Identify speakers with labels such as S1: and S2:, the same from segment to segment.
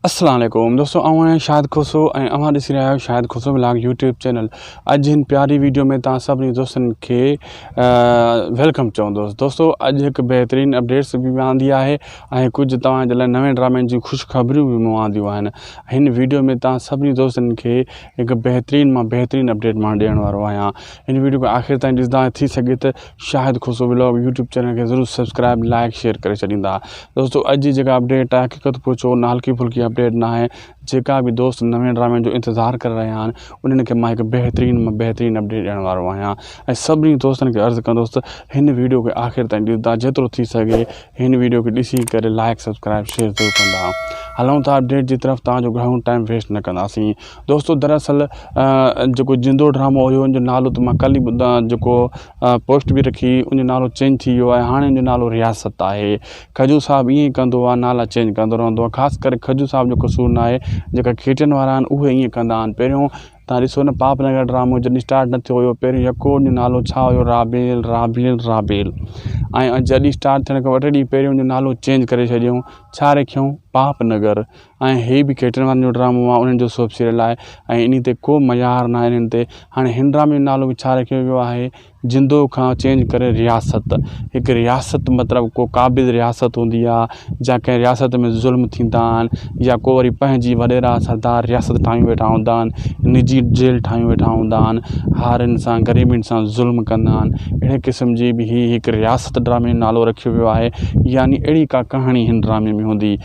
S1: السلام عليڪم دوستو آئون آهيان شاهد کوسو ۽ اوهان ڏسي رهيا آهيو Shahid Khoso vlog YouTube channel اڄ هن پياري ويڊيو ۾ تان سڀني دوستن کي ويلڪم چوندو دوستو اڄ هڪ بهترين اپڊيٽس به آندي آهي ۽ ڪجهه توهان جي لاء نوين ڊرامن جي خوش خبريون به مون آنديون آهن هن ويڊيو ۾ تان سڀني دوستن کي هڪ بهترين مان بهترين اپڊيٽ مان ڏيڻ وارو آهيان هن ويڊيو کي آخر تائين ڏسندا ٿي سگهي ته Shahid Khoso vlog YouTube channel کي ضرور سبسڪرائب لائڪ شيئر ڪري ڇڏيندا دوستو اڄ جي جيڪا اپڊيٽ آهي حقيقت پوڇو نه هلڪي ڦلڪي اپڊيٽ نه آهي جيڪا به دوست نوين ڊرامي جو انتظار ڪري رهيا آهن انهن کي مان هڪ بهترين مان بهترين اپڊيٽ ڏيڻ وارو آهيان ۽ سڀني دوستن کي عرض ڪندوس ته هن ويڊيو کي آخر تائين ڏسندا جيترو ٿي سگهي هن ويڊيو کي ڏسي ڪري لائڪ سبسڪرائب شيئر ضرور ڪندا هلون ٿا اپڊيٽ جي طرف تان جو گهڻو ٽائيم ويسٽ نه ڪنداسين دوستو دراصل جيڪو جندو ڊرامو هيو ان جو نالو ته مان ڪل ئي جيڪو پوسٽ به رکي ان جو نالو چينج ٿي ويو آهي هاڻي ان جو نالو رياست آهي کجو صاحب ائين ئي ڪندو آهي نالا چينج ڪندو رهندو آهي خاص ڪري کجو صاحب جو قصور نه آهي جيڪا کيٽين وارا آهن اهي ائين ڪندا آهن پهريون تان ڏسو نه پاپ نگر ڊرامو جڏهن اسٽارٽ نه ٿيو هيو پهريون يڪو ان جو نالو ڇا هيو رابيل رابيل رابيل ۽ جڏهن اسٽارٽ ٿيڻ کان ٻه ٽي ڏينهن پهريون ان جو نالو چينج ڪري ڇڏيائون ڇا رکيائون پاپ نگر ۽ هي به ڪيٽرن وارن جو ڊرامو آهي انهن جو سوپ سيريل آهي ۽ انهي تي ڪو معيار ناهي انهن تي هاڻي هن ڊرامي جو نالو به ڇا رکيو ويو آهي جندو کان چينج ڪري رياست هڪ رياست مطلب ڪو قابض رياست هوندي آهي جا ڪنهن رياست ۾ ظلم ٿيندا آهن يا ڪو وري پنهنجي وڏيرا سردار رياست ٺاهيون ويٺا هوندا آهن نجي جيل ٺاهيون ويٺا هوندا آهن هارين سان غريبين سان ظلم ڪندا آهن اهڙي قسم جي به هي هڪ رياست ڊرامي جو نالو رکيو ويو آهي يعني اهڙي ڪا ڪهاڻي هن ڊرامي ۾ هوندي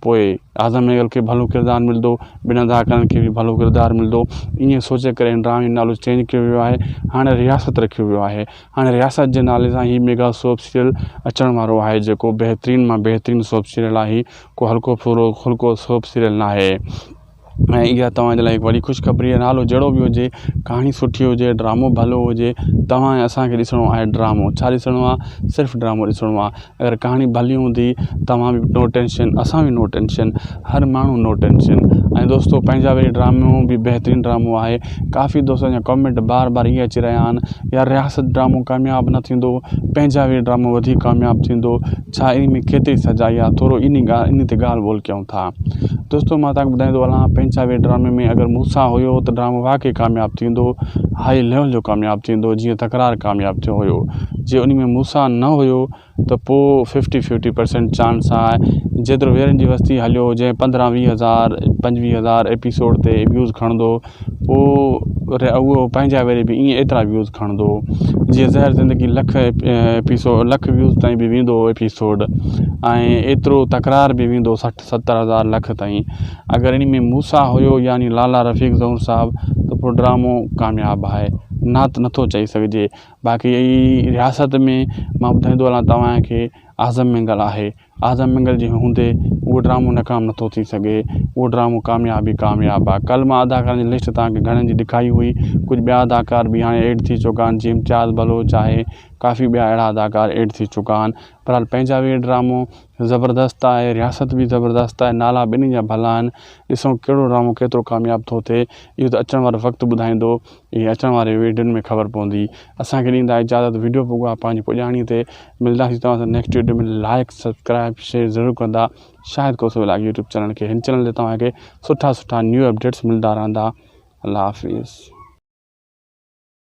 S1: پوء اعظم مينگل کي ڀلو ڪردار ملندو، بن ادا ڪرڻ کي به ڀلو ڪردار ملندو. ائين سوچي ڪري هن ڊرامي جو نالو چينج ڪيو ويو آهي. هاڻي رياست رکيو ويو آهي. هاڻي رياست جي نالي سان هي ميگا سوپ سيريل اچڻ وارو آهي جيڪو بهترين مان بهترين سوپ سيريل آهي. ڪو هلڪو ڦلڪو سوپ سيريل ناهي. ۽ اها توهان جي لاء هڪ وڏي خوشخبري آهي نالو جهڙو به هجي ڪهاڻي سٺي هجي ڊرامو ڀلو هجي توهان ۽ اسان کي ڏسڻو آهي ڊرامو ڇا ڏسڻو آهي صرف ڊرامو ڏسڻو آهي اگر ڪهاڻي ڀلي هوندي توهان بي نو ٽينشن اسان بي نو ٽينشن هر ماڻهو نو ٽينشن ۽ دوستو پنهنجا به ڊرامو بي بهترين ڊرامو آهي ڪافي دوستن جا ڪامينٽ بار بار اهي اچي رهيا آهن يار رياست ڊرامو ڪامياب نه ٿيندو پنهنجا بي ڊرامو وڌيڪ ڪامياب ٿيندو ڇا انهي ۾ ڪيتري سچائي آهي ٿورو انهي ڳالهه انهي تي ڳالهه ٻولهه ڪيون ٿا دوستو مان تهانکي ٻڌائيندو هلان پنچاوي ڊرامي ۾ اگر موسيٰ هيو ته ڊرامو واقعي ڪامياب ٿيندو هاء ليول جو ڪامياب ٿيندو جيئن تڪرار ڪامياب ٿيو هيو جي انهي ۾ موسيٰ نه هيو ته پوء ففٽي ففٽي پرسنٽ چانس آهي جيترو ويرن جي وستي هليو جنهن پندرهن ويهه هزار پنجويهه هزار ايپيسوڊ تي ويوز کڻندو پوء وري اهو پنهنجا وري به ائين ايترا ويوز کڻندو هو جيئن زهر زندگي لک ايپيسوڊ لک ويوز تائين به ويندو هو ايپيسوڊ ۽ ايترو تڪرار به ويندو سٺ ستر هزار لک تائين اگر ان ۾ موسا هيو يعني لالا رفيق زهور صاحب ته پوء ڊرامو ڪامياب آهي نه ته نٿو چئي سگهجي باقي رياست ۾ مان ٻڌائيندو هلان توهان کي اعظم مينگل آهي اعظم منگل جي هوندي اهو ڊرامو ناڪام نٿو ٿي سگهي اهو ڊرامو ڪامياب ئي ڪامياب آهي ڪلهه مان اداڪارن جي لسٽ توهان کي گهڻن جي ڏکائي هئي ڪجهه ٻيا اداڪار به هاڻي ايڊ ٿي چڪا آهن جي امتياز بلوچ آهي ڪافي ٻيا اهڙا اداڪار ايڊ ٿي چڪا آهن بهرحال پنهنجا به ڊرامو زبردست آهي رياست به زبردست آهي نالا ٻنهي جا ڀلا آهن ڏسون ڪهڙو ڊرامو ڪيترو ڪامياب ٿو ٿئي اهو ته اچڻ وارو وقت ٻڌائيندو اهي اچڻ واري ويڊيون ۾ خبر پوندي اسان کي ڏيندا اجازت ويڊيو پوگا پنهنجي پڄاڻي تي ملداسين توهان سان next video ۾ like subscribe share ضرور ڪندا Shahid Khoso vlog YouTube channel کي هن چينل تي توهان کي سٺا سٺا نيو اپڊيٽس ملدا رهندا الله حافظ